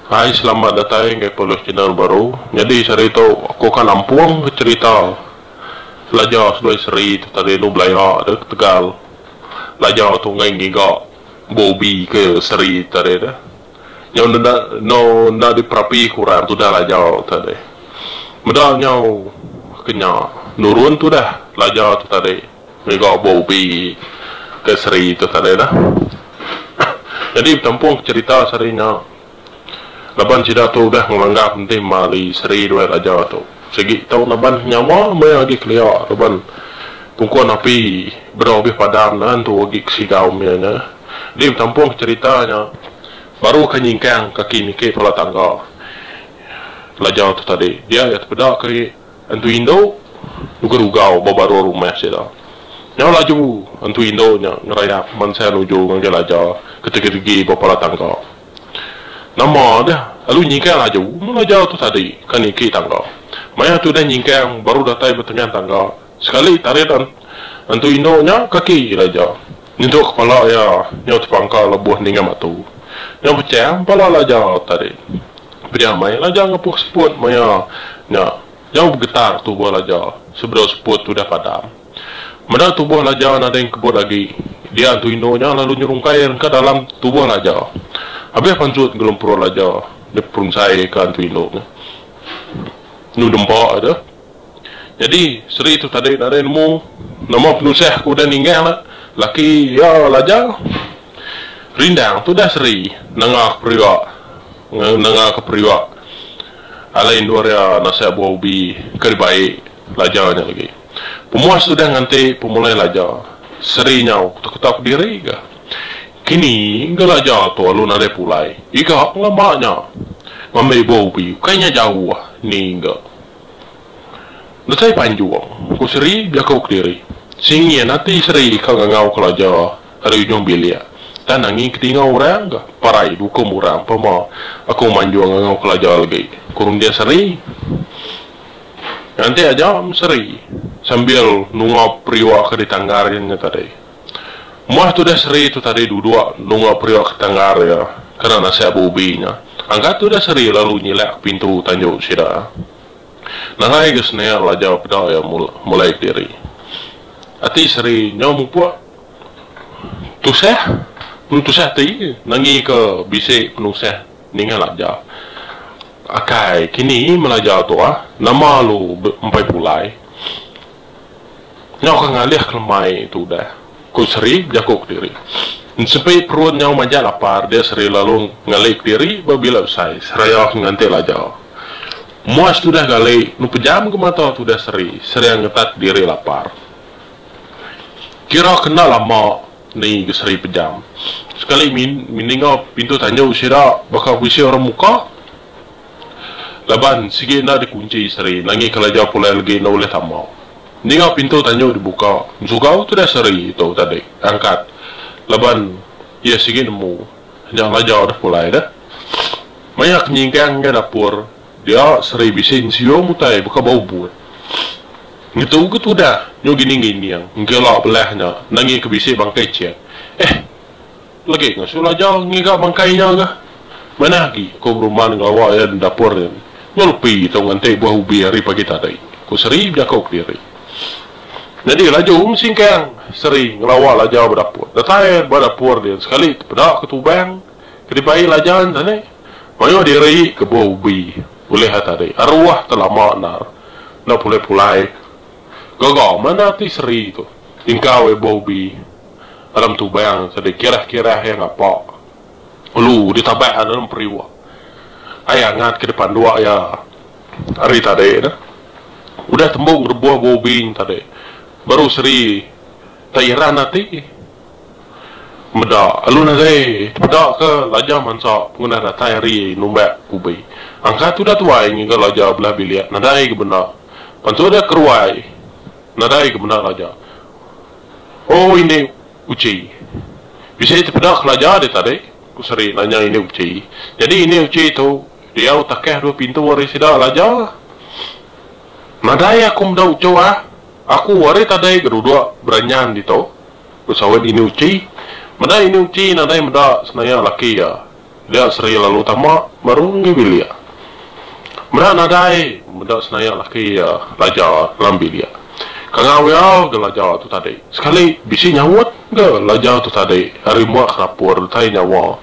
Hai selamat datai enggai pulih channel baru nyadi sehari tu aku akan nampung ke cerita pelajar seduai seri tu tadi anu belaya da ketegal pelajar tu enggai ngiga. ba ubi ke seri tadi deh. Nyau nenda enggau enda diperapi ke orang tudah lajar tadi. Meda nyau ke nya nurun tudah lajar tu tadi ngaga ba ubi ke seri tu tadi deh. Jadi betampung ke cherita seri nya. Laban sida tu udah ngelanggap enti mali seri dua raja tu. Sigi tau Laban nyawa meh agi kelia laban pungkon api bedau bih padam nan tu agi ke sidau meh nya. Di betampung cherita nya baru ke nyingkang kaki niki pala tangga laja tu tadi. Dia iya tepeda ke entu indu nuga rugau ba baruh rumah sida. Nyau laju entu indu nya ngerayap mansa nuju ngagai laja ke tegi-tegi ba pala tangga. Nama deh lalu nyingkang aju mula jau tu tadi ka niki tangga. Maya tu deh nyingkang baru datai betengah tangga sekali tarit antu indu nya kaki ila ja nyentuk kepala iya nyau tepangka lebuh ninga batu nyau pecah empala ila ja tu tadi. Pia meh ila ja ngepuh seput maya nya nyau begetar tubuh ila ja sebedau seput tu deh padam. Meda tubuh Laja nadai engkebut agi, dia entu indu nya lalu nyerung kail engka dalam tubuh Laja. Abih pansut enggulung perut Laja diperungsai ka entu indu nya. Enu dempa aja. Nyadi seri tu tadi nadai nemu nama penusah ke udah ninggah enda laki iya Laja. Rindang tudah seri nanga ke peria nanga ke peria alai endur iya nasak buah ubi ke dibai Laja nya agi. Pemuas udah nganti pemulai laja. Seri nyau ketak-ketak diri ga. Kini ga laja tu alu nadai pulai. Iga pengamba nya. Ngambi ibu ubi ukai nya jauh ni ga. Datai panjung, ku Seri bejaku kediri. Singin ati Seri ka ngangau ke laja ari ujung bilik. Tang nangi ke tingau orang ga. Parai dukum orang pema aku manjung ngangau ke laja lagi, ku runding Seri. Nganti aja Meseri sambil nunga periuk ke ditanggar iya nya tadi. Moh tudah seri tu tadi duduk nunga periuk ke ditanggar iya kena nasah ba ubi nya, angkat tudah seri lalu nyilak ke pintu tanju sida. Nadai ga senial laja peda iya mulai kediri. Ati seri nya mupuk tusah, tusah ati nangika bisi penusah. Ningal aja. Akai kini melajar tu ah. Nama lu empai pulai. Nyau ka ngalih ke lemai tu udah. Ku Sri bejaku kediri. Ensepi perut nyau majak lapar dia Sri lalu ngali kediri ba bila besai seraya ke nganti laja. Muas tudah gali nu pejam ke mata tudah Sri seraya ngetat diri lapar. Kira ke enda lama. Ni ke seri pejam. Sekali min min ninga pintu tanjau sida baka bisi orang muka. Laban sigi enda dikunchi seri nangih kelaja pulai legi enda ulih tama. Ninga pintu tanjau dibuka ensugau tudah seri tu tadi angkat laban iya sigi nemu nya laja udah pulai dah. Maya ke nyingkang enggau dapur. Dia seri bisi nsiung utai baka ba ubut. Ngetu ke tudah nyu gining-gining nggela belah nya nanggi ke bisi bangkai Chek. Eh! Legi ngasu laja ngiga bangkai nya ga. Manah agi aku beruman ngelawa iya di dapur nen. Nyu lepi tau nganti buah ubi ari pagi tadi, ku Seri bejaku kediri. Nyadi laju Singkang seri ngelawa laja ba dapur. Datai ba dapur din sekali tepeda ke tubang. Kadi pai lajan sani. Mayuh diri ke buah ubi ulih ai tadi aruah te lama endar enda pulai pulai gaga mana ti seri tu tingkau ai buah ubi dalam tubang sadi kirah kirah iya ngapa ulu ditabak dalam periuk ai angat ke dipanduk iya hari tadi ne udah tembu ngerebuh buah ubi tadi baru seri te iran ati. Meda alu nadai tepeda ke laja mansa pengudah datai hari numbak ubi. Angkat udah tuai ngiga laja belah bilik nadai ga benda. Bantu deh keruai nadai ga benda laja. Oh indi uchi. Bisi tepeda ke laja deh tadi? ku Seri nanya indi uchi. Nyadi indi uchi tu diau takah dua pintu ari sida laja. Nadai aku meda uchu ah. Aku ari tadi ga duduk beranyan ditu. Ku sawit Ini Uchi, meda Ini Uchi nadai meda senaya laki iya, dia seri lalu tama baru enggi bilik. Meda nadai meda senaya laki iya laja dalam bilik. Kangau iya ga laja tu tadi. Sekali bisi nyaut ga laja tu tadi ari mak ke dapur utai nyawa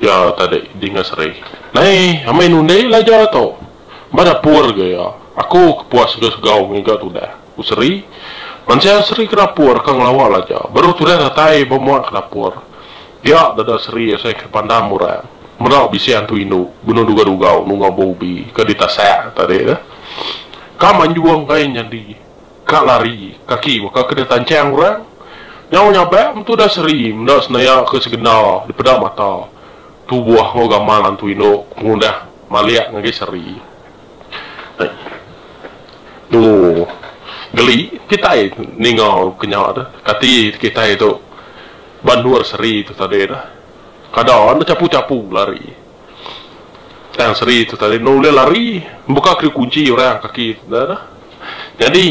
iya tadi dinga seri. Nai amai nundi laja tu. Ba dapur ga iya. Aku ke puas ga segau ngiga tudah. Ku Sri, Mansya Sri ke dapur ka ngelawa laja, baru tudah datai ba mua ke dapur. Pia dada Sri asai ke pandam orang. Meda bisi antu indu benung dugau-dugau nungau ba ubi ke ditasak tadi tu. Ka manjung enggai nyadi, ka lari, kaki baka ke ditanchang orang. Nyau nyabak metu da Sri meda senaya ke segenda dipeda mata. Tu buah enggau gamal antu indu ke pengudah malik ngagai Sri. Ooh. Geli kitai ninga ke nya tu. Kati kitai tu ba endur seri tu tadi tu. Kada ne bechapu-chapu lari. Tang seri tu tadi enda ulih lari. Mbuka keri kunchi orang kaki ne tu. Nyadi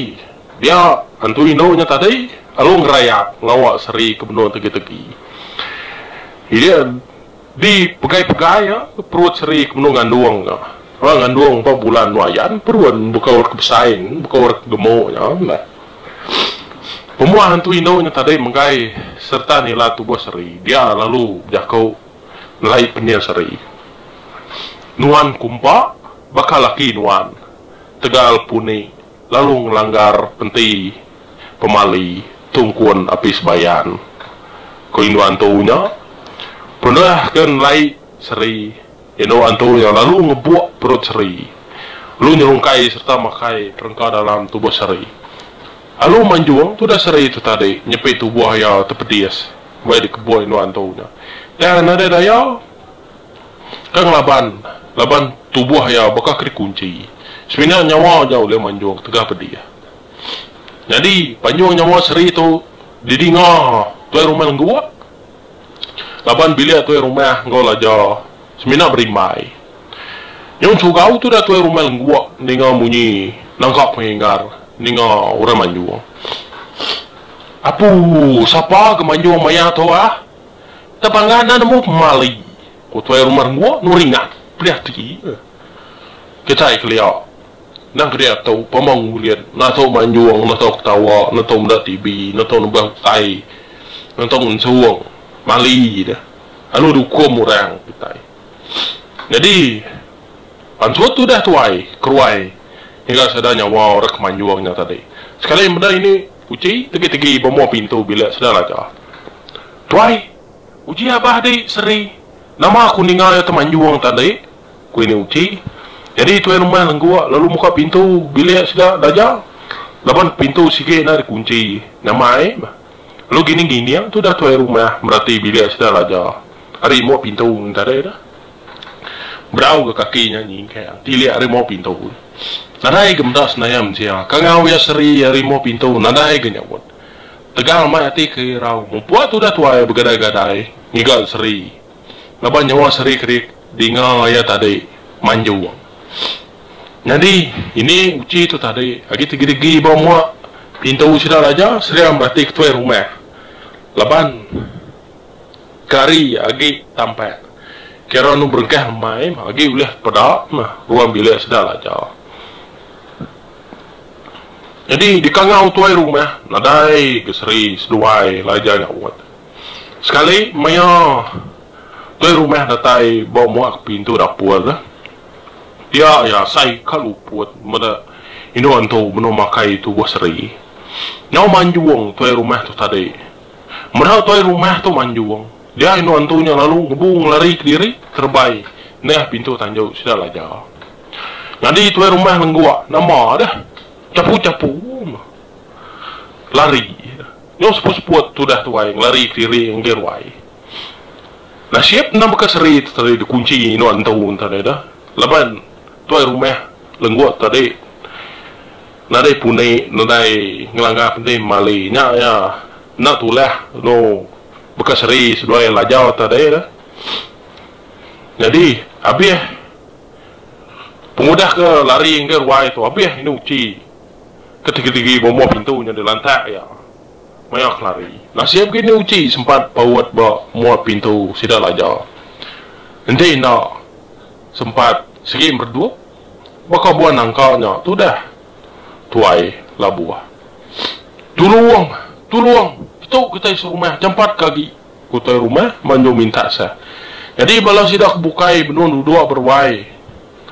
dia antu indu nya tadi lalu ngerayap ngawa seri ke benung tegi-tegi. Yen. Di pegai-pegai iya, perut seri ke benung ngandung nya. Orang ngandung empat bulan endur ayan, perun baka orang ke besai, baka orang ke gemuk nya meh. Pemuah entu indu nya tadai menggai sereta nila tubuh seri dia lalu bejaku ngelai pening seri. Nuan kumpa baka laki nuan tegal puni. lalu ngelanggar enti pemali tungkun Apis Bayan. Ku indu antu nya, Penuh ke nelai seri, indu antu nya lalu ngebuk perut seri, lalu nyerungkai sereta makai perengka dalam tubuh seri. Lalu manjung tudah seri tu tadi nyepi tubuh iya tepedis, bai dikebuk indu antu nya. Tang nadai daya, Kang laban, laban tubuh iya baka ke dikunchi. Semina nyawa ja ulih manjung tegah pedih. Nyadi, panjung nyawa seri tu didinga tuai rumah lengguak laban bilik tuai rumah enggau laja semina berimbai. Nyau chugau tudah tuai rumah lengguak ninga munyi nangka pengingar ninga orang manjung. Apu, sapa ke manjung maya tu ah? Enda pangan enda nemu pemali, ku tuai rumah Rengguh nuringan peri ati iya. Kitai kelia endang kedia tu pemung bulit enda tau manjung, enda tau ketawa, enda tau meda TV, enda tau nebah utai, enda tau ngensung mali deh lalu diukum orang kitai. Nyadi pansut tudah tuai keruai ngiga sada nyawa orang ke manjung nya tadi. Sekali meda ini. Uji tegi-tegi bemua pintu bilik Sedaraja. Tuai! Uji abah di, Seri. Nama aku ninga iya temanjung tadi? ku ini Uji. Nyadi tuai rumah lengguk lalu muka pintu bilik sida Daja laban pintu sigi enda dikunchi nyamai. Lalu gining-gining tudah tuai rumah merati bilik Sedaraja ari embuk pintu ngintai. Berau ga kaki nya nyingkang tilik ari mau pintu. Nadai ga meda senaya mensia. Kangau iya seri ari mau pintu nadai ga nyaut. Tegal amai ati ke irau mupuk tudah tuai begadai-gadai ngiga seri. Laban nyawa seri kedik dinga iya tadi manjung. Nyadi ini uchi tu tadi agi tegidigi ba mua pintu sida raja seri meratika tuai rumah. Laban. Kari agi tampat. Kira nu berengkah emai mah agi ulih peda mah ruang bilik sedar aja. Nyadi di kangau tuai rumah nadai ga seri seduai laja nyaut. Sekali maya tuai rumah datai ba muak ke pintu dapur tu, pia iya asai ka luput meda indu antu benung makai tubuh seri. Nyau manjung tuai rumah tu tadi Meda tuai rumah tu manjung, dia indu antu nya lalu ngebu ngelari kediri kerebai nengah pintu tanjau sida laja. Nyadi tuai rumah lenggok nama deh chapu-chapu ma lari nyau seput-seput tudah tuai ngelari kediri ngagai ruai. Nasib endang baka seri tu tadi dikunchi indu antu tadi deh laban tuai rumah lenggok tadi. Nadai puni nadai ngelanggar penting mali nya iya enda tulah lalu baka seri seduai lajau tadi tu. Nyadi abih pengudah ke lari ngagai ruai tu abih indu uchi ke tigi-tigi bumbuh pintu nya dilantak iya maya ke lari. Nasib ke indu uchi sempat paut ba muat pintu sida lajau. Enti enda sempat sigi meredup. baka buah nangka nya tudah tuai labuh. Tulung! Tulung! Petu kitai serumah jampat ke agi ku tuai rumah manjung minta sah. Nyadi bala sida ke bukai benung duduk beruai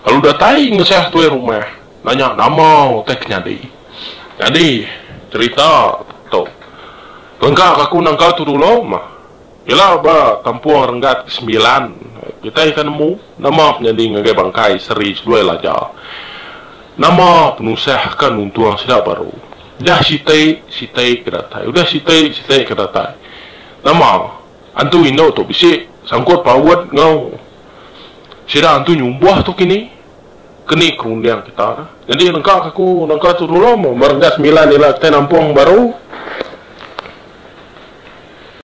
lalu datai ngesah tuai rumah nanya nama utai ke nyadi. Nyadi cherita tu lengka ka aku nangka tu dulu mah Ila ba kampung Renggat ke sembilan, kitai ka nemu nama penyadi ngagai bangkai Seri Seduai Laja. Nama penusah ka nuntung sida baru. Jah siti, siti ke datai. Udah siti, siti ke datai. Nama antu indu tu bisi sangkut paut enggau sida antu nyumbuh tu kini? Ke ni ke runding kita dah. Nyadi nengka ka ku naka tu dulu, ba Renggat Sembilan ila kitai nampung baru.